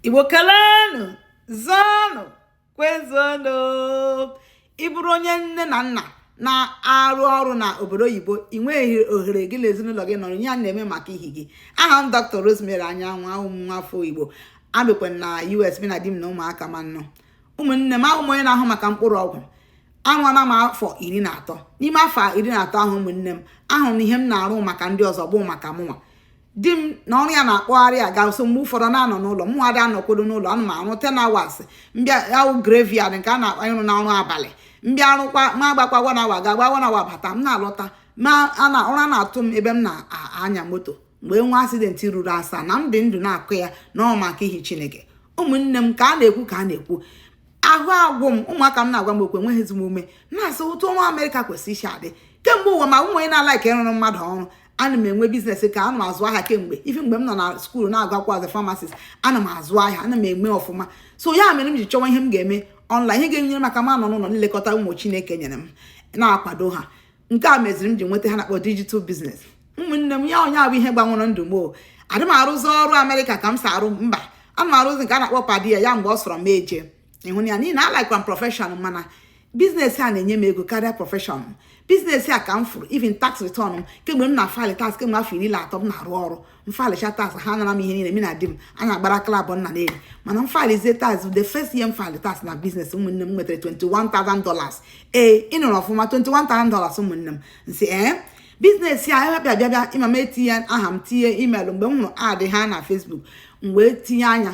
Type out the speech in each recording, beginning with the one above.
igbo kelenụ zọnụ kwezuonụ ị bụrụ onye nne na nna na-arụ ọrụ na obodo oyibo ị nweghị ohere gị na ezinụlọ gị nọrọ ihe a na-eme maka ihi gị aha m dr rosemary anyanwụ awụ m nwafọ igbo ebikwa m na us mụ na di m na ụmụaka m anọ ụmụnne m awụ m onye na-ahụ maka mkpụrụ ọgwụ arụọla m afọ iri na atọ n'ime afọ iri na atọ ahụ ụmụnne m ahụrụ m na ihe m na-arụ maka ndị ọzọ bụ maka mụnwa di m na ọrụ ya na-akpọgharị aga so mgbe ụfọdụ na-anọ n'ụlọ mụ ada anọkwado n'ụlọ ana m arụ ten hours m bịa arụ graveyard nke a na-akpọ ịrụ ọrụ abalị m bịa arụkwa ma agbakwa one hour aga agba one hour abata m na-alọta mana ụra na-atụ m ebe m na-anya moto mgbe nwa accident ruru asaa na m dị ndụ na-akọ ya na ọ maka ihi chineke ụmụnne m ka a na-ekwu ka a na-ekwu ahụ agwụ m ụmụaka m na-agwa m okwu enweghị m ezigbo ume na-asị otu ọrụ amerịka kwesịrị isi adị kemgbe ụwa ma awụghị m onye na-alike ịrụrụ mmadụ ọrụ ana m enwe business ka ana m azụ ahịa kemgbe even mgbe m nọ na school na-agụ akwụkwọ as a pharmacist ana m azụ ahịa ana m eme ọfụma so ya mere m ji chọwa ihe m ga-eme online ihe ga-enyere m aka m nọ n'ụlọ na-elekọta ụmụ chineke nyere m na-akwado ha nke a meziri m ji nweta ihe a na-akpọ digital business ụmụnne m ya onye abụ ihe gbanwere ndụ m o adị m arụzi ọrụ amerịka ka m si arụ mba ana m arụzi nke a na-akpọ per diem mgbe ọ sọrọ m eje ịrụ ya n'ihi na alikekwa m profession mana business a na-enye m ego karịa profession m business a ka m fụrụ even tax return m kemgbe m na-afile tax kemgbe afọ iri na atọ m na-arụ ọrụ m filecha tax ha anara m ihe niile m na di m a na-agbara klabụ nna na eri mana m filezie tax the first year m file tax na business ụmụnne m nwetara 21,000 dollars ee ị nụrụ ọfụma 21,000 dollars ụmụnne m m sị ee business a ebe bịa bịa bịa ịma m etinye aha m tinye email mgbe m hụrụ ad ha na Facebook m wee tinye anya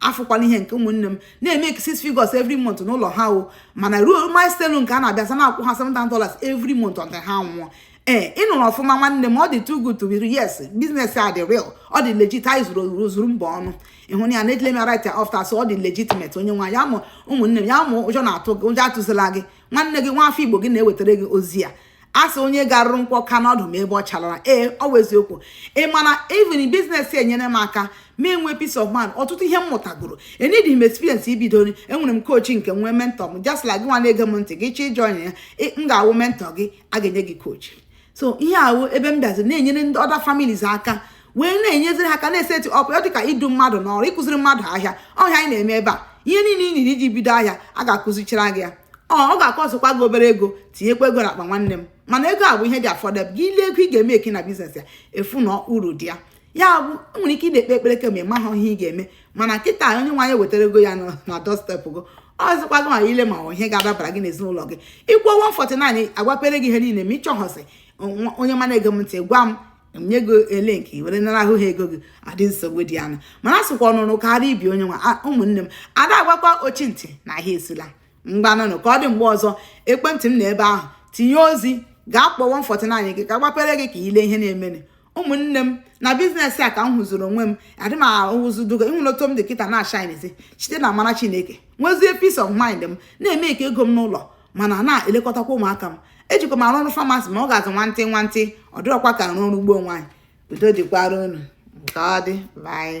afụkwala ihe nke ụmụnne m na-eme six figures every month n'ụlọ ha o mana ruo milestone nke a na-abịazi na-akwụ ha seven thousand dollars every month until ha nwụọ ee ị nụrụ ọfụma nwanne m ọ dị too good to be yes business a dị real ọ dị legit anyị zuru ozuru zuru mba ọnụ ịhụ na ya na-edile m right after so ọ dị legitimate onye nwa ya mụ ụmụnne m ya wụ ụjọ na-atụ gị ụjọ atụzila gị nwanne gị nwa afọ igbo gị na-ewetara gị ozi a a sị onye garuru nkwụ aka n'ọdụ ma ebe ọ chalara ee ọ wụ eziokwu ị ma na even business enyere m aka m enwee peace of mind ọtụtụ ihe m mụtagoro eneedighị m experience ibido enwere m coach nke nwee mentor m just like gị nwa na-ege m ntị gị chọọ ịjoin ya m ga-awụ mentor gị a ga-enye gị coach so ihe a wụ ebe m bịazi na-enyere ndị other families aka wee na-enyeziri ha aka na-eset up ya dịka idu mmadụ n'ọrụ ịkụziri mmadụ ahịa ọ ihe anyị na-eme ebe a ihe niile ị needi iji bido ahịa a ga-akụzichara gị ya ọ ga-acostkwa gị obere ego tinyekwa ego n'akpa nwanne m mana ego a bụ ihe dị affordable gị ile ego ị ga-emake na business a ị fụ na uru dị ya ya bụ enwere ike ị na-ekpe ekpere kemgbe maka ihe ị ga-eme mana kịta onyenweanyị wetara gị ya na doorstep gị ọzọkwa gị ma ile ma ihe ga-adabara gị n'ezinụlọ gị ị kwụọ 149 agbapere gị ihe niile ma ịchọghọsị onye m na-ege m ntị gwa m nye gị link were nara ahụ ha ego gị adị nsogbu dị anụ mana asịkwa ọ nụrụ kara ibe onye nwa ụmụnne m ada agwakwa ochi ntị na ahịa esila ngwanụnụ ka ọ dị mgbe ọzọ ekwentị m nọ ebe ahụ tinye ozi gaa kpọọ 149 gị ka gbapere gị ka i le ihe na-emenụ ụmụnne m na business a ka m hụzuru onwe m adị m ahụzudugo ị hụrụ otu m dị kịta na-ashinezi site na amara chineke nwezie peace of mind m na-emake ego m n'ụlọ mana na-elekọtakwa ụmụaka m ejikwa m arụ ọrụ pharmacy ma ọ ga-azụ nwantị nwantị ọ dịrọkwa ka arụ ọrụ gboo ngwanụ udo dịkwara unu ka ọ dị bye